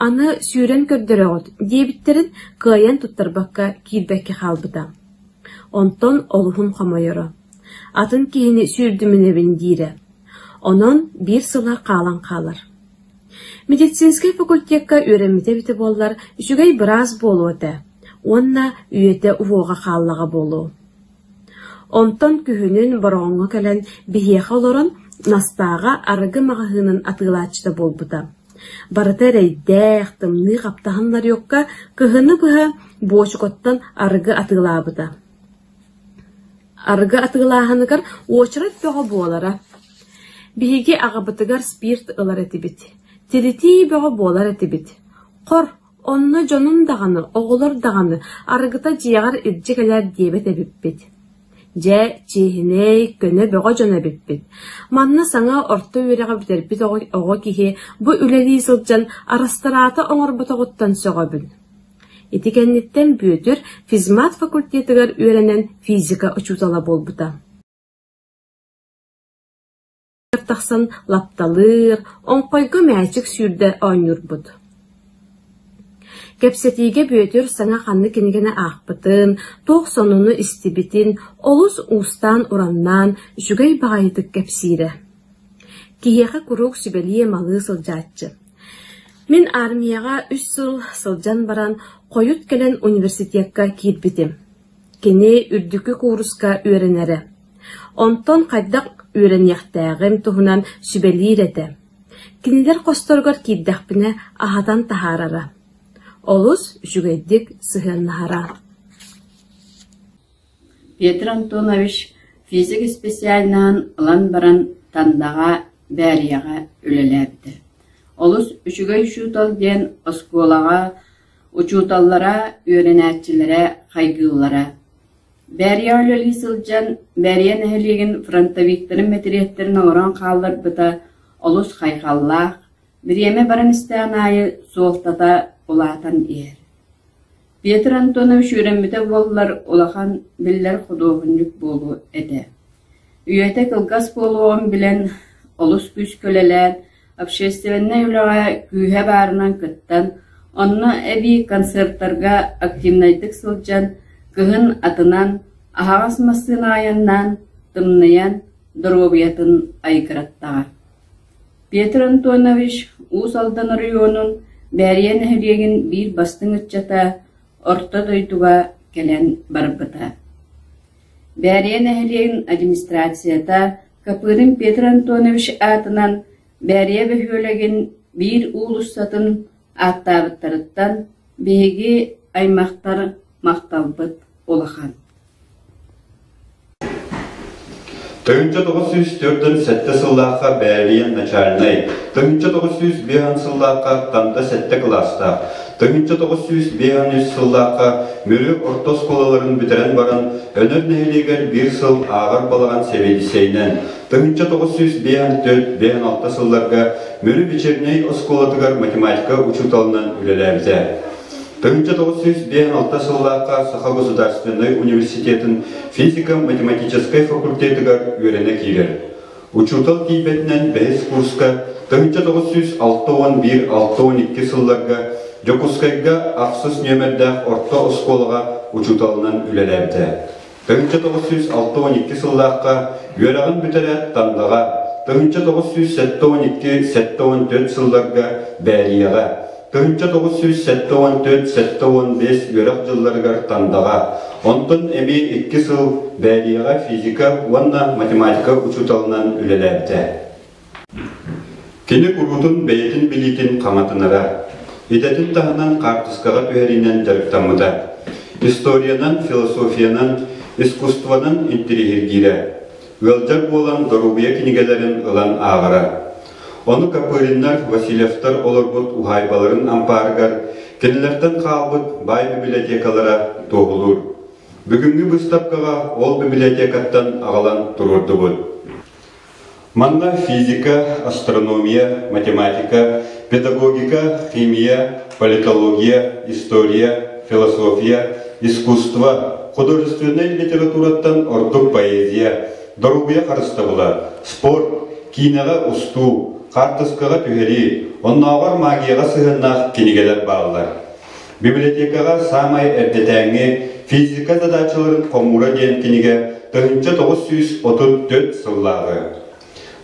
аны сүүрэн көрдөрөҕүт диэбиттэрин кыайан туттарбакка киирбэккэ хаалбыта. Онтон олуһун хомойоро. Атын киһини сүүрдүмүнэбин диирэ. Онон биир сыла хаалан хаалар. Медицинскэй факультекка үөрэммитэ эбитэ буоллар үчүгэй быраас буолуо этэ уонна үйэтэ уһуоҕа хааллаҕа буолуо. Онтон күһүнүн Бороҕоҥҥо кэлэн биһиэхэ олорон Настааҕа арыгы маҕаһыынын атыылааччыта буолбута. Барыта эрэйдээх, тымныы хаптаһыннарыахха кыһыны быһа буочукуттан арыгы атыылаабыта Арыгы атыылааһыныгар уочарат бөҕө буолара. Биһиги аҕабытыгар спирт ылар этибит, тиритии бөҕө буолар этибит. Хор, онно дьонум даҕаны, оҕолор даҕаны арыгыта дьиэҕэр илдьэ кэлээр диэбэт эбиппит. Дьэ, чиэһинэй, көнө бөҕө дьон эбиппит. Манна саҥа орто үөрэҕи бүтэрбит оҕо киһи бу үлэлии сылдьан арастараата оҥорботоҕуттан сөҕөбүн Ити кэнниттэн Бүөтүр физмат факультетыгар үөрэнэн физика учуутала буолбута. тахсан лапталыыр, оҥхойго мээчик сүүрдэ оонньуурбут. Кэпсэтиигэ Бүөтүр саҥа ханна кинигэни аахпытын, туох сонуну истибитин олус уустаан-ураннаан, үчүгэй баҕайытык кэпсиирэ. Киһиэхэ куруук сүбэлии-малыы сылдьааччы. Мин аармыйаҕа үс сыл сылдьан баран, хойут кэлэн университекка киирбитим. Кини үрдүкү кууруска үөрэнэрэ. Онтон хайдах үөрэниэхтээҕим туһунан сүбэлиир этэ. Кинилэр хосторугар киирдэхпинэ аһатан таһаарара. Олус үчүгэйдик сыһыаннаһара Петр Антонович физик исписээлинэҕин ылан баран Тандаҕа, Бээрийэҕэ үлэлээбитэ. Олус үчүгэй учуутал диэн оскуолаҕа учууталлара, үөрэнээччилэрэ, хайгыыллара. Бээрийэҕэ үлэлии сылдьан Бээрийэ нэһилиэгин фронтовиктарын мэтириэттэрин оҥорон хаалларбыта олус хайҕаллаах, Бириэмэ баран истэҕин аайы суолтата улаатан иһэр. Петр Антонович үөрэммитэ буоллар улахан, биллэр худуоһунньук буолуо этэ. Үйэтэ кылгас буолуоҕун билэн, олус күүскүлэлээн, общественнай үлэҕэ күүһэ баарынан кыттан, онно эбии концертарга активнайдык сылдьан, кыһын атынан, аһаҕас массыына айаннаан, тымныйан, доруобуйатын айгыраттаҕа. Петр Антонович Уус Алдан оройуонун Бээрийэ нэһилиэгин биир бастыҥ ыччата Орто дойдуга кэлэн барбыта. Бээрийэ нэһилиэгин администрацията Капырин Петр Антонович аатынан Бээрийэ бөһүөлэгин биир уулуссатын ааттаабыттарыттан биһиги аймахтар махталбыт улахан. Тыһыынча тоҕус сүүс төрдөн сэттэ сыллаахха Бээбиэн начальнай, тыһыынча тоҕус сүүс биэһэн сыллаахха Тамда сэттэ кылаастаах, тыһыынча тоҕус сүүс биэһэн үс сыллаахха Мүрү орто оскуолаларын бүтэрэн баран, Өнөр нэһилиэгэр биир сыл ааҕар балаҕан сэбиэдиссэйинэн, Тыһыынча тоҕус сүүс биэс түөрт биэс алта сылларга Мүрү вечернэй оскуолатыгар математика учууталынан үлэлээбитэ. Тыһыынча тоҕус сүүс биэс алта сыллаахха Саха государственнай университетын физико-математическай факультетыгар үөрэнэ киирэр. Учуутал тиийбэтинэн бэһис курска тыһыынча тоҕус сүүс алта уон биир алта уон икки сылларга Дьокуускайга ахсыс нүөмэрдээх орто оскуолаҕа учууталынан үлэлээбитэ. Тыһыынча тоҕус сүүс алта уон икки сыллаахха үөрэҕин бүтэрэ Тандаҕа, тыһыынча тоҕус сүүс сэттэ уон икки сэттэ уон түөрт сылларга Бээрийэҕэ, тыһыынча тоҕус сүүс сэттэ уон түөрт сэттэ уон биэс үөрэх дьылларыгар Тандаҕа, онтон эмиэ икки сыл Бээрийэҕэ физика уонна математика учууталынан үлэлээбитэ. Кини куруутун бэйэтин билиитин хаҥатынара, идэтин таһынан хаартыскаҕа түһэриинэн дьарыктаммыта. Историянан, философиянан, искусствонан интириэһиргиирэ. Ыалдьар буолан доруобуйа кинигэлэрин ылан ааҕара. Ону Копыриннар, Васильевтар олорбут уһаайбаларын ампаарыгар, кинилэртэн хаалбыт баай библиотекалара туоһулуур. Бүгүҥҥү быыстапкаҕа ол библиотекаттан аҕалан туруордубут. Манна физика, астрономия, математика, педагогика, химия, политология, история, философия, искусство, художественнай литератураттан ордук поэзия, доруобуйа харыстабыла, спорт, киинэҕэ устуу, хаартыскаҕа түһэрии, оннооҕор магияҕа сыһыаннаах кинигэлэр бааллар. Библиотекаҕа саамай эрдэтээҥҥи Физика задачаларын хомуура диэн кинигэ тыһыынча тоҕус сүүс отут түөрт сыллааҕы,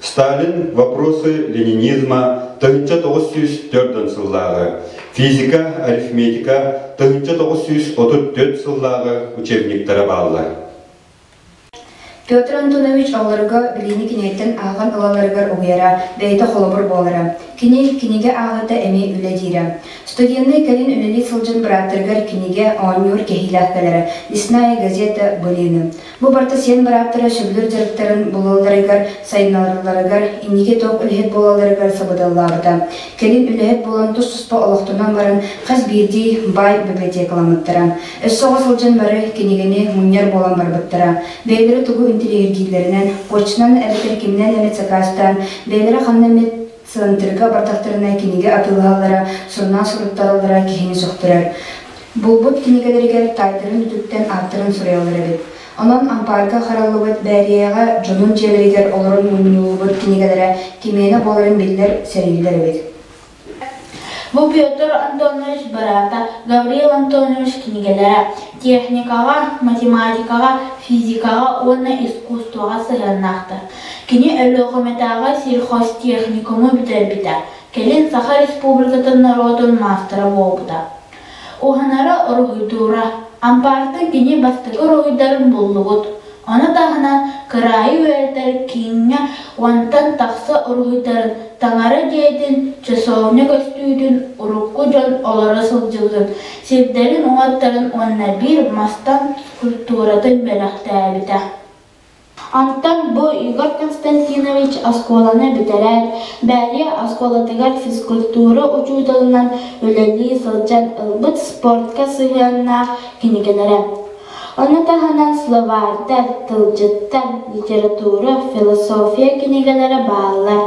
Сталин Вопросы ленинизма тыһыынча тоҕус сүүс төрдөн сыллааҕы, Физика, арифметика тыһыынча тоҕус сүүс отут түөрт сыллааҕы учебниктара бааллар. Петр Антонович оҕолорго билиини кинигэттэн ааҕан ылалларыгар угуйара, бэйэтэ холобур буолара. Кини кинигэ ааҕыыта эмиэ үлэ диирэ. Студеннай кэлин үлэлии сылдьан бырааттарыгар кинигэ оонньуур кэһиилээх кэлэрэ «Лесная газета» былыыны. Бу барыта сиэн бырааттара сөбүлүүр дьарыктарын булалларыгар, сайыннаралларыгар, инники туох үлэһит буолалларыгар сабыдаллаабыта. Кэлин үлэһит буолан тус-туспа олохтонон баран хас биирдии баай библиотекаламмыттара. Өссө оҕо сылдьан бары кинигэни мунньар буолан барбыттара. Бэйэлэрэ тугу интириэһиргииллэринэн, почтанан эбэтэр киминэн эмит сакаастаан, бэйэлэрэ ханна эмит сыанатырга бардахтарына кинигэ атыылаһаллара, сурунаал суруттараллара киһини сөхтөрөр. Булбут кинигэлэригэр таайдарын үтүктэн ааттарын суруйаллар эбит. Онон ампаарга хараллыбыт Бээрийэҕэ дьонун дьиэлэригэр олорон мунньуллубут кинигэлэрэ кимиэнэ буоларын биллэр, сэриилэр эбит. Бу Петр Антонович быраата Гаврил Антонович кинигэлэрэ техникаҕа, математикаҕа, физикаҕа уонна искусствоҕа сыһыаннаахтар. Кини Өлүөхүмэтээҕи сельхозтехникуму бүтэрбитэ, кэлин Саха Республикатын норуотун маастара буолбута. Уһанара оргуйдуура, ампаартан кини бастакы уруһуйдарын буллубут. Ону таһынан кыраайы үөрэтэр кииҥҥэ уонтан тахса уруһуйдарын таҥара дьиэтин часовня көстүүтүн урукку дьон олоро сылдьыбытын, сирдэрин уҥаттарын уонна биир мастан культуратын бэлэхтээбитэ. Онтон бу Егор Константинович оскуоланы бүтэрээт, Бээрийэ оскуолатыгар физкультура учууталынан үлэлии сылдьан ылбыт спортка сыһыаннаах кинигэлэрэ. Ону таһынан словардар, тылдьыттар, литература, философия кинигэлэрэ бааллар.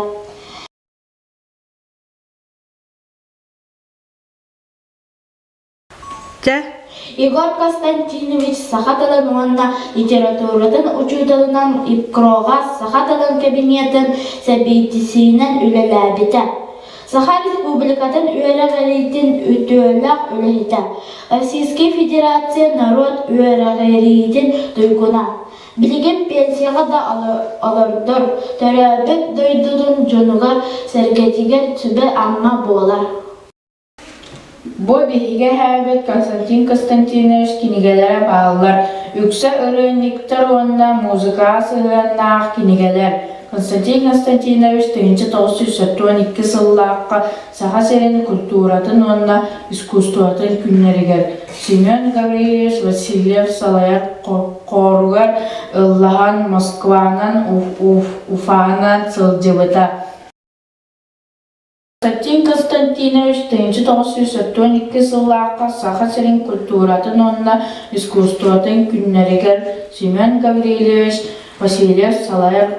Егор Константинович саха тылын уонна литературатын учууталынан ИПКРОҕа саха тылын кабинетын сэбиэдиссэйинэн үлэлээбитэ. Саха Республикатын үөрэҕириитин үтүөлээх үлэһитэ, Российскай Федерация норуот үөрэҕириитин туйгуна. Билигин пенсияҕа да олордор, төрөөбүт дойдутун дьонугар-сэргэтигэр сүбэ-ама буолар. Бу биһиги эһээбит Константин Константинович кинигэлэрэ бааллар үксэ ырыанньыктар уонна музыкаҕа сыһыаннаах кинигэлэр. Константин Константинович тыһыынча тоҕус сүүс сэттэ уон икки сыллаахха Саха сирин культуратын уонна искусствотын күннэригэр Семен Гаврильевич Васильев салайар хооругар ыллаһан Москванан Уфанан сылдьыбыта. Константин Константинович тыһыынча тоҕус сүүс отуон икки сыллаахха Саха сирин культуратын уонна искусствотын күннэригэр Семен Гаврильевич Васильев салайар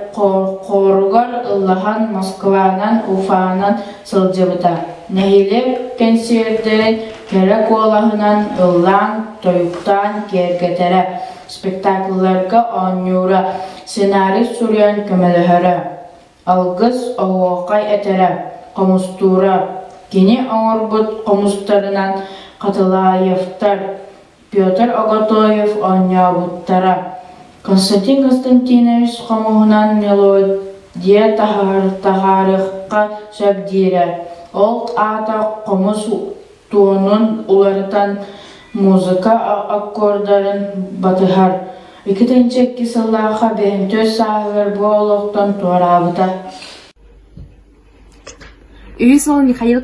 хооругар ыллаһан Москванан, Уфанан сылдьыбыта. Нэһилиэк кэнсиэрдэрин кэрэ куолаһынан ыллаан, тойуктаан киэргэтэрэ, спектаклларга оонньуура, сценарий суруйан көмөлөһөрө. Алгыс, оһуохай этэрэ, хомустуура. Кини оҥорбут хомустарынан Хатылаевтар, Петр Оготоев оонньообуттара. Константин Константинович хомуһунан мелодия таһаарыхха сөп диирэ. Ол аата хомус туонун уларытан музыка аккордарын батыһар. Икитинчи икки сыллаахха бэһин түөрт сааһыгар бу олохтон туораабыта. Үһүс уол Михаил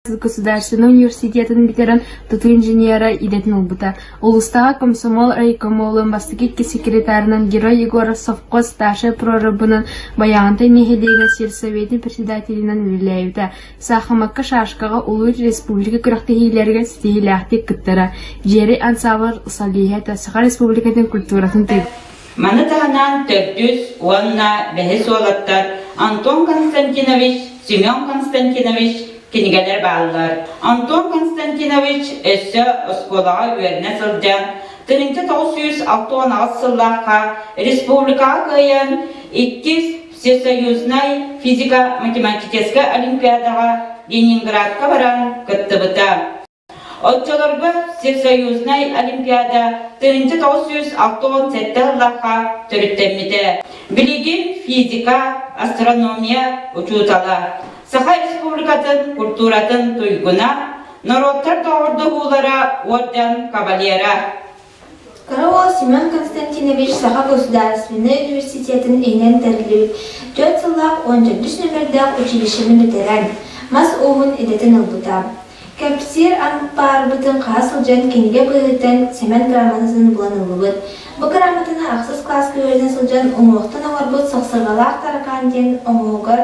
государственнай университетын бүтэрэн тутуу инженера идэтин ылбыта. Улустааҕы комсомол райкомолун бастакы икки секретарынан герой Егор Совко старшай прорабынан Баяантай нэһилиэгин сельсоветин председателинэн үлэлээбитэ. Саахымакка шашкаҕа улуус республика күрэхтэһиилэригэр ситиһиилээхтик кыттара Дьиэри ансаабыл солиһиэта Саха Республикатын культуратын тыын Маны таһынан төрдүс уонна бэһис уолаттар Антон Константинович, Семен Константинович кинигэлэр бааллар. Антон Константинович өссө оскуолаҕа үөрэнэ сылдьан, тыһыынча тоҕус сүүс алта уон аҕыс сыллаахха республикаҕа кыайан, иккис Всесоюзнай физико-математическай олимпиадаҕа Ленинградка баран кыттыбыта. Оччолорго Всесоюзнай олимпиада тыһыынча тоҕус сүүс алта уон сэттэ сыллахха төрүттэммитэ. Билигин физика, астрономия учуутала, Саха Республикатын культуратын туйгуна, норуоттар доҕордоһуулара уордьан кавалера, Кыра уол Семен Константинович Саха государственнай университетин иһинэн тэриллибит түөрт сыллаах уон төрдүс нүөмэрдээх училищены бүтэрэн, мас ууһун идэтин ылбыта. Кэпсиир аҥпаарбытын хаһа сылдьан кинигэ быһыытынан Семен грамотатын булан ыллыбыт. Бу грамотаны ахсыс кылааска үөрэнэ сылдьан уҥуохтан оҥорбут Сахсыргалаах таракаан диэн уҥуоҕугар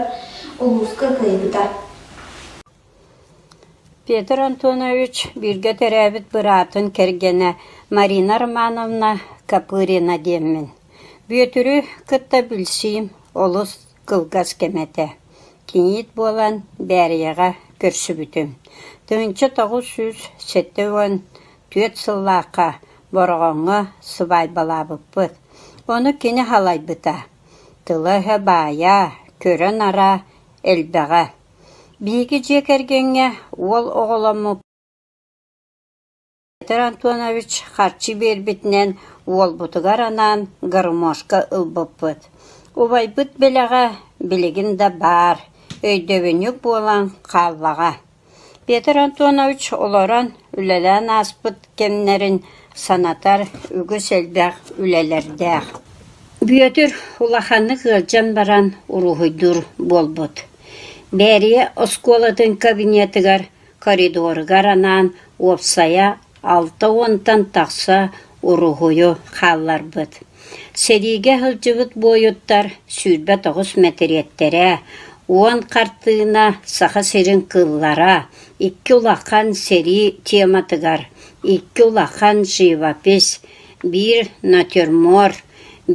улууска кыайбыта. Петр Антонович бииргэ төрөөбүт быраатын кэргэнэ Марина Романовна Копырина диэммин, Бүөтүрү кытта билсиим олус кылгас кэм этэ, киниит буолан Бээрийэҕэ көрсүбүтүм, тыһыынча тоҕус сүүс сэттэ уон түөрт сыллаахха Бороҕоҥҥо сыбаайбалаабыппыт, ону кини халайбыта, тыла-өһө баайаа, көрө-нараа элбэҕэ. Биһиги дьиэ кэргэҥҥэ уол оҕоломмут Петр Антонович харчы биэрбитинэн уолбутугар анаан гармошка ылбыппыт. Убайбыт бэлэҕэ билигин да баар, өйдөбүнньүк буолан хааллаҕа. Петр Антонович олорон, үлэлээн ааспыт кэмнэрин санатар үгүс элбэх үлэлэрдээх. Бүөтүр улаханнык ыалдьан баран уруһуйдуур буолбут. Бээрийэ оскуолатын кабинетыгар коридоругар анаан уопсайа алта уонтан тахса уруһуйу хаалларбыт. Сэриигэ сылдьыбыт буойуттар сүүрбэ тоҕус мэтириэттэрэ, уон хартыына Саха сирин кыллара, икки улахан сэрии тематыгар, икки улахан живопись, биир натюрморт,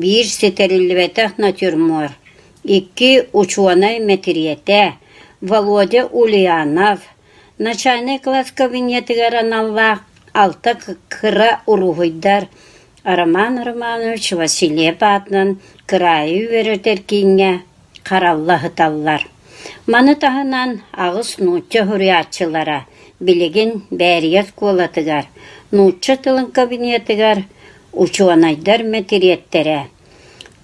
биир ситэриллибэтэх натюрмор, Икки учуонай мэтириэтэ Володя Ульянов, начальнай-кылаас кабинетыгар аналлаах алта кыра уруһуйдар Роман Романович Васильев аатынан кыраайы үөрэтэр кииҥҥэ харалла ыһыталлар. Маны таһынан аҕыс нуучча суруйааччылара билигин Бээрийэ оскуолатыгар, нуучча тылын кабинетыгар учуонайдар мэтириэттэрэ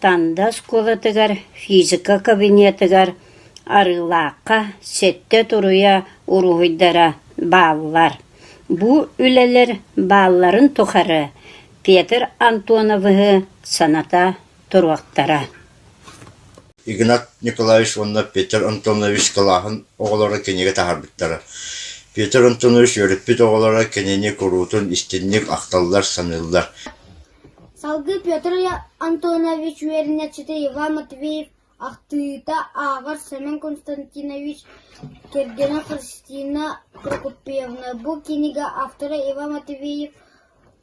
Танда оскуолатыгар физика кабинетыгар Арыылаахха сэттэ туруйа уруһуйдара бааллар. Бу үлэлэр баалларын тухары Петр Антоновиһы саната туруохтара Игнат Николаевич уонна Петр Антонович кылааһын оҕолоро кинигэ таһаарбыттара. Петр Антонович үөрэппит оҕолоро кинини куруутун истинник ахталлар, саныыллар Салгыы Петр Антонович үөрэнээччитэ Иван Матвеев ахтыыта ааҕар Семен Константинович кэргэнэ Христина Прокопьевна бу кинигэ автора Иван Матвеев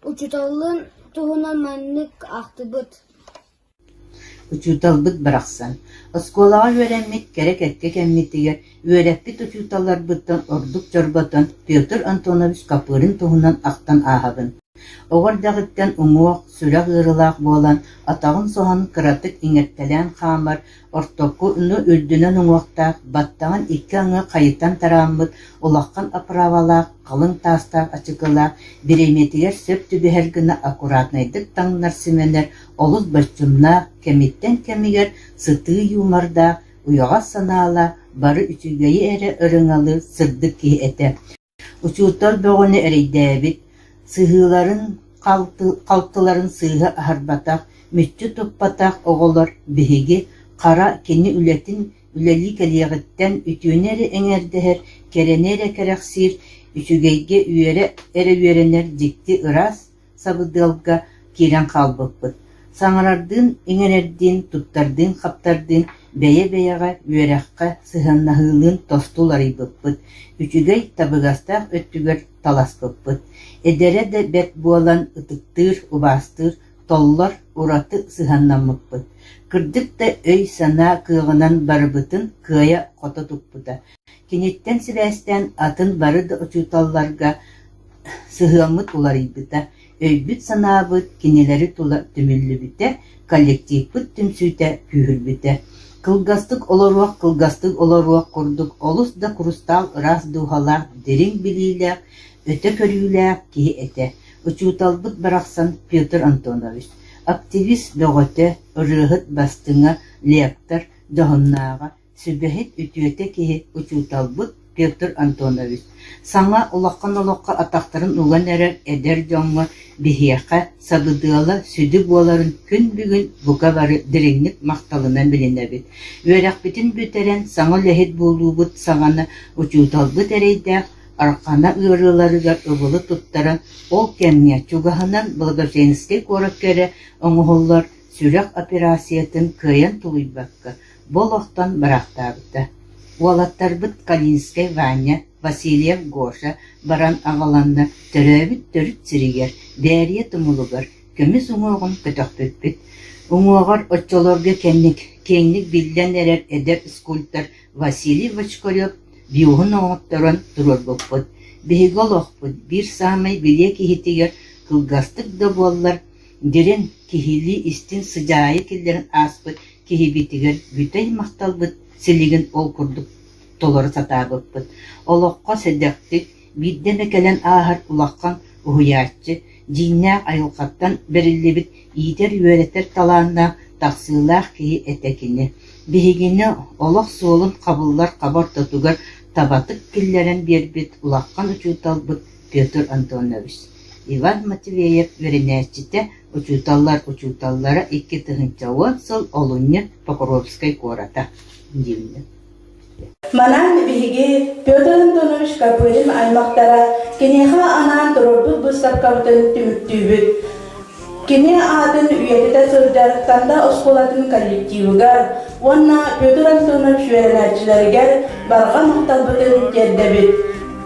учууталын туһунан маннык ахтыбыт: Учууталбыт барахсан, оскуолаҕа үөрэммит кэрэ кэккэ кэммитигэр үөрэппит учууталларбыттан ордук чорботон Петр Антонович Копырин туһунан ахтан ааһабын, оҕо эрдэҕиттэн уҥуох, сүрэх ыарыылаах буолан, атаҕын соһон кыратык иҥэртэлээн хаамар Ортоку ну үрдүнэн уҥуохтаах, баттаҕын икки аҥы хайытан тарааммыт улахан оправалаах халыҥ таастаах ачыкылаах, бириэмийэтигэр сөп түбэһэр гына аккуратнайдык таҥнар симэнэр олус боччумнаах, кэмиттэн кэмигэр сытыы юмордаах, уйаҕас санаалаах, бары үчүгэйи эрэ ырыҥалыы, сырдык киһи этэ Учуутал бөҕөнү эрэйдээбит, сыһыыларын, халтыларын сыыһа аһарбатах, мүччү туппатах оҕолор биһиги, хара кини үлэтин үлэлии кэлиэҕиттэн үтүөнү эрэ эҥэрдэһэр, кэрэни эрэ кэрэхсиир, үчүгэйгэ үөрэ эрэ үөрэнэр дьикти ыраас, сабыдыалга киирэн хаалбыппыт, саҥарардыын, иҥэрэрдиин, туттардыын-хаптардыын бэйэ-бэйэҕэ, үөрэххэ сыһыаннаһыылыын тосту уларыйбыппыт, үчүгэй табыгастаах өттүгэр таласпыппыт, эдэрэ да бэрт буолан ытыктыыр, убаастыыр, толлор, ураты сыһыаннаммыппыт. Кырдык да өй-санаа кыаҕынан барыбытын кыайа-хото туппута, Киниттэн сибээстээн атын бары да учууталларга сыһыаммыт уларыйбыта, өйбүт-санаабыт кинилэри тула түмүллүбүтэ, коллективпыт түмсүүтэ күүһүрбүтэ. Кылгастык олоруох, кылгастык олоруох курдук олус да курустаал ыраас дууһалаах, дириҥ билиилээх, өтө көрүүлээх киһи этэ. Учууталбыт барахсан Петр Антонович, активист бөҕөтө, ырыаһыт бастыҥа, лектор, дьоһуннааҕа, Сүбэһит, үтүөтэ киһи учууталбыт Петр Антонович саҥа олоххон-олоххо атахтарын уган эрэр эдэр дьоҥҥо биһиэхэ сабыдыала сүдү буоларын күн бүгүн бука бары дириҥник махталынан билинэбит, үөрэхпитин бүтэрэн саҥа үлэһит буолуубут саҕана учууталбыт эрэйдээх Архана ыарыыларыгар ыбылы туттара, ол кэмҥэ чугаһынан Благоженскэй куоракка эрэ оҥоһуллар сүрэх операциятын кыайан тулуйбакка, бу олохтон бырахтаабыта. Уолаттарбыт Калинскай Ваня, Васильев Гоша баран аҕаланнар төрөөбүт төрүт сиригэр, Дээрийэ тумулугар көмүс уҥуоҕун көтөхпүппүт. Уҥуоҕар оччолорго кэнник киэҥник биллэн эрэр эдэр скульптор Василий Бочкарев биуһун оҥотторон туруорбуппут. Биһиги олохпут биир саамай билиэ киһитигэр кылгастык да буоллар, дириҥ киһилии истин сыдьаайы киллэрэн ааспыт киһибитигэр бүтэй махталбыт силигин ол курдук толоро сатаабыппыт, олоххо сэдэхтик, биирдэ эмэ кэлэн ааһар улахан уһуйааччы, дьиҥнээх айылҕаттан бэриллибит иитэр-үөрэтэр талааннаах, тахсыылаах киһи этэ кини. Биһигини олох суолун хабыллар хаба ортотугар табатык киллэрэн биэрбит улахан учууталбыт Петр Антонович. Иван Матвеев үөрэнээччитэ Учууталлар учууталлара икки тыһыынча уон сыл олунньу Покровскай куората дииллэр Манан биһиги Петр Антонович Копырин аймахтара киниэхэ анаан туруорбут быыстапкабытын түмүктүүбүт. Кини аатын үйэтитэ сылдьар Танда оскуолатын коллективыгар уонна Петр Антонович үөрэнээччилэригэр барҕа махталбытын тиэрдэбит.